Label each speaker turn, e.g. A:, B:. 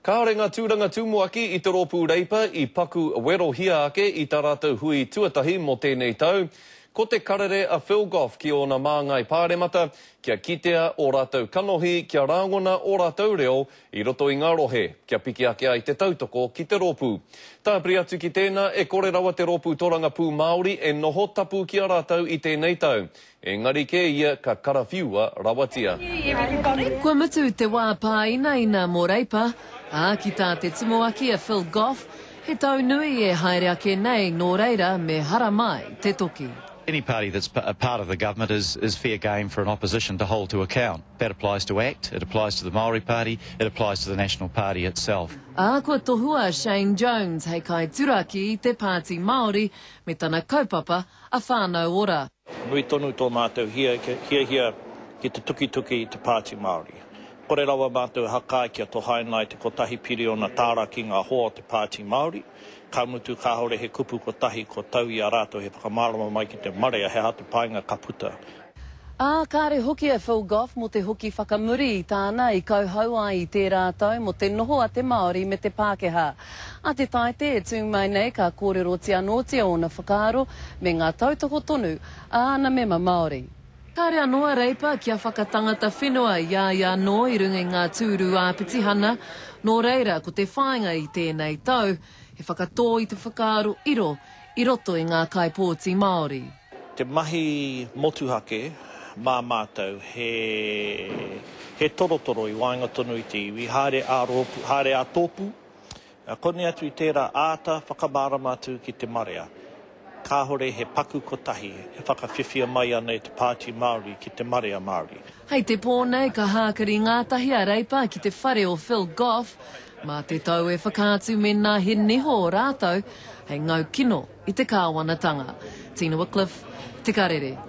A: Kāore ngā tūranga tumuaki i te rōpū Reipa i paku werohia ake i tā rātou hui tuatahi mō tēnei tau. Ko te karere a Phil Goff ki ōna māngai pāremata kia kitea ō rātou kanohi kia rāngona ō rātou reo i roto i ngā rohe kia piki ake ai te tautoko ki te rōpū. Tāpiri atu ki tēnā, e kore rawa te rōpū Torangapū Māori e noho tapu ki a rātou i tēnei tau. Engari kē ia ka karawhiua rawatia. Kua
B: mutu te wā pāinaina mō Reipa, ā, ki tā te tumuaki a Phil Goff, he tau nui e haere ake nei nō reira me haramai te toki. Any party that's
C: part of the government is is fair game for an opposition to hold to account. That applies to act, it applies to the Māori Party, it applies to the National Party itself. Ā, kua tohua
B: a Shane Jones hei kaituraki i te Pāti Māori me tana kaupapa a Whānau Ora. Nui tonu tō
D: mātou hiahia ki te tukituki i te Pāti Māori. Kore rawa mātou e haka ai kia tohaina ai te kotahi piriona tāra ki ngā hoa o te Pāti Māori, ka mutu kāore he kupu kotahi kua tau i a rātou he whakamārama mai ki te marea he aha te painga ka puta Ā,
B: kāre hoki a Phil Goff mō te hoki whakamuri i tāna i kauhau ai i tērā tau mō te noho a te Māori me te Pākehā. Ā te tāite e tū mai nei ka kōrerotia anōtia ōna whakaaro me ngā tautoko tonu a ana mema Māori. Kāre anō a Reipa kia whakatangata whenua i a ia anō i runga i ngā tūru ā-petihana, nō reira ko te whāinga i tēnei tau, he whakatō i te whakaaro iro, i roto i ngā kaipōti Māori. Te mahi
D: motuhake mā mātou he he torotoro i waenga tonu i te iwi, haere ā-rōpū, haere ā-tōpū, koni atu i tērā āta whakamārama atu ki te marea. Kāore he paku kotahi e whakawhiwhia mai ana e te Pāti Māori ki te marea Māori. Hei te pō nei
B: ka hākari ngātahi a Reipa ki te whare o Phil Goff, Mā te tau e whakaatu mēnā he niho rātou hei ngau kino i te kāwanatanga. Tina Wickliffe, Te Karere.